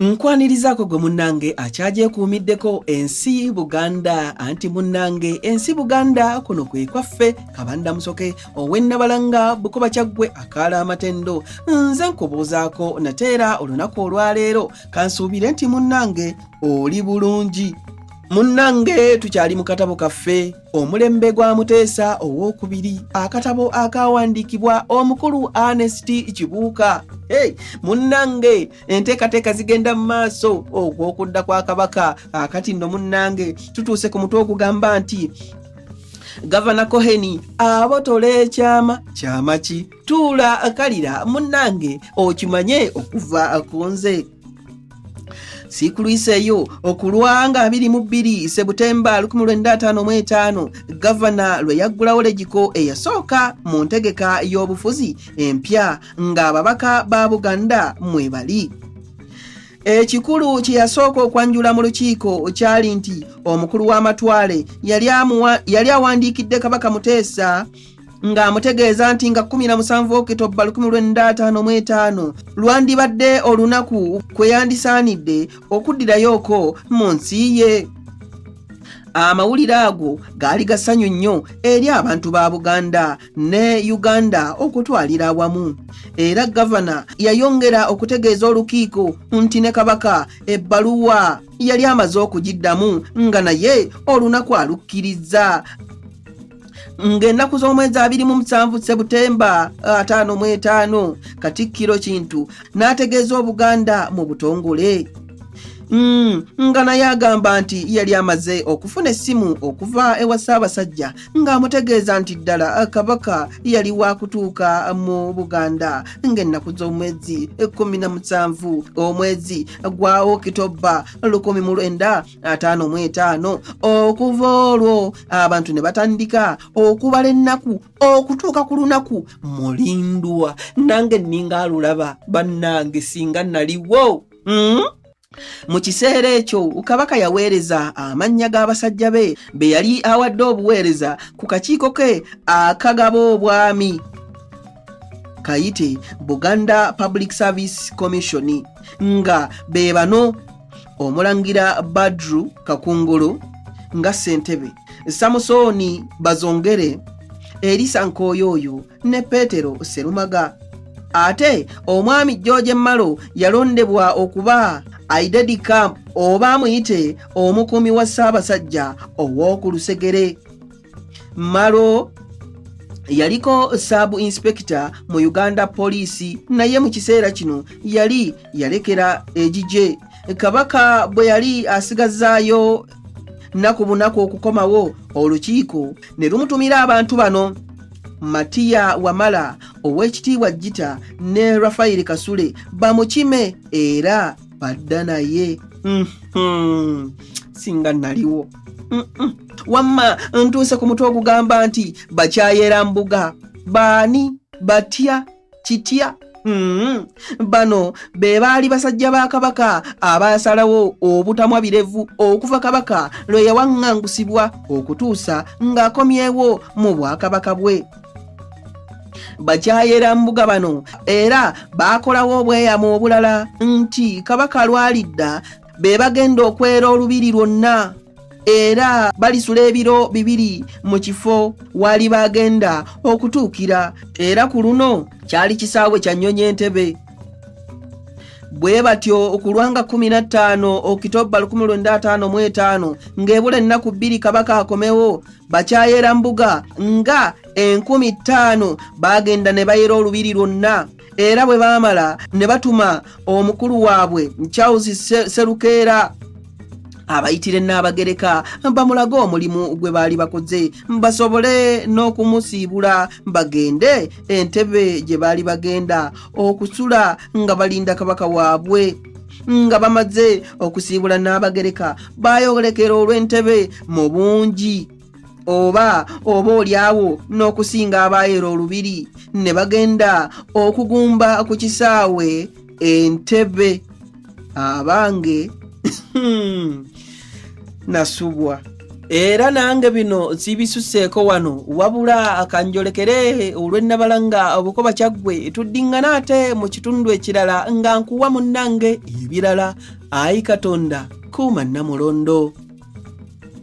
nkwanirizaako gwe munnange akyagyekuumiddeko ensi buganda anti munnange ensi buganda kuno kwe kwaffe kabanda musoke owennabalanga bukoba kyaggwe akaala amatendo nze nkubuuzaako nateera olunaku olwaleero kansuubire nti munnange oli bulungi munnange tukyali mu katabo kaffe omulembe gwa muteesa owokubiri akatabo akawandiikibwa omukulu anesti kibuuka hey, munnange enteekateeka zigenda mu maaso okwokudda kwa kabaka akati nno munnange tutuuse ku mutwe ogugamba nti gavana koheni abotole ekyama kyama ki tuula kalira munnange okimanye okuva ku nze sikulwiseeyo okulwanga abiri mu bbiri sebutemba 1955 gavana lwe yaggulawo legiko eyasooka mu ntegeka y'obufuzi empya ng'ababaka ba buganda mwe bali ekikulu kye yasooka okwanjula mu lukiiko kyali nti omukulu w'amatwale yali awandiikidde kabaka muteesa ng'amutegeeza nti nga 17 okitobba 1955 lwandibadde olunaku kwe yandisaanidde okuddirayoko mu nsi ye amawulire ago gaali gasanyu nnyo eri abantu ba buganda ne uganda okutwalira awamu era gavana yayongera okutegeeza olukiiko nti ne kabaka ebbaluwa yali amaze okugiddamu nga naye olunaku alukkirizza ng'ennaku z'omwezi abiri mu musanvu sebutemba ataano mu etaano katikkiro kintu n'ategeeza obuganda mu butongole Mm, nga naye agamba nti yali amaze okufuna essimu okuva ewa ssaabasajja ng'amutegeeza nti ddala kabaka yali waakutuuka mu buganda ng'ennaku z'omwezi ekkumi na musanvu omwezi gwa okitobba lukumi mu lwenda ataano mu etaano okuva olwo abantu ne batandika okubala ennaku okutuuka ku lunaku mulindwa nange nninga alulaba bannange singa naliwo mm? mu kiseera ekyo kabaka yaweereza amannya g'abasajja be be yali awadde obuweereza ku kakiiko ke akagaba obwami kayite buganda public service commission nga be bano omulangira badru kakungulu nga ssentebe samusooni bazongere erisa nkooyooyo ne peetero serumaga ate omwami george malo yalondebwa okuba aidedi camp oba amuyite omukuumi wa ssaabasajja ow'oku lusegere Maro yaliko saabu inspekita mu uganda poliisi naye mu kiseera kino yali yalekera egigye kabaka bwe yali asigazaayo nnaku bunaku okukomawo olukiiko ne lumutumira abantu bano matiya wamala ow'ekitiibwa jita ne rafayiri kasule bamukime era badda naye mhm. singa naliwo wamma ntuuse ku mutwe ogugamba nti bakyayera mbuga baani batya kitya mm-hmm. bano be baali basajja ba kabaka abaasalawo obutamwa birevu okuva kabaka lwe yawaŋŋangusibwa okutuusa ng'akomyewo mu bwakabaka bwe bakyayera mbuga bano era baakolawo obweyamo obulala nti kabaka lwalidda be bagenda okwera olubiri lwonna era balisula ebiro bibiri mu kifo waali baagenda okutuukira era ku luno kyali kisaawe kya nnyonyi entebe bwe batyo okulwanga 15 okitobba 1555 ng'ebula ennaku bbiri kabaka akomewo bakyayera mbuga nga enkumi ttaano baagenda ne bayera olubiri lwonna era bwe baamala ne batuma omukulu waabwe charles serukeera abayitire n'abagereka bamulage omulimu gwe baali bakoze basobole n'okumusiibula bagende entebe gye baali bagenda okusula nga balinda kabaka waabwe nga bamaze okusiibula n'abagereka baayolekera olw'entebe mu bungi oba oba olyawo n'okusinga abaayeera olubiri ne bagenda okugumba ku kisaawe entebe abange hmm, nasubwa era nange bino sibisuseeko wano wabula akanjolekere olwennabala nga obukoba kyaggwe tuddiŋŋana ate mu kitundu ekirala nga nkuwa munnange ebirala ayi katonda kuuma nnamulondo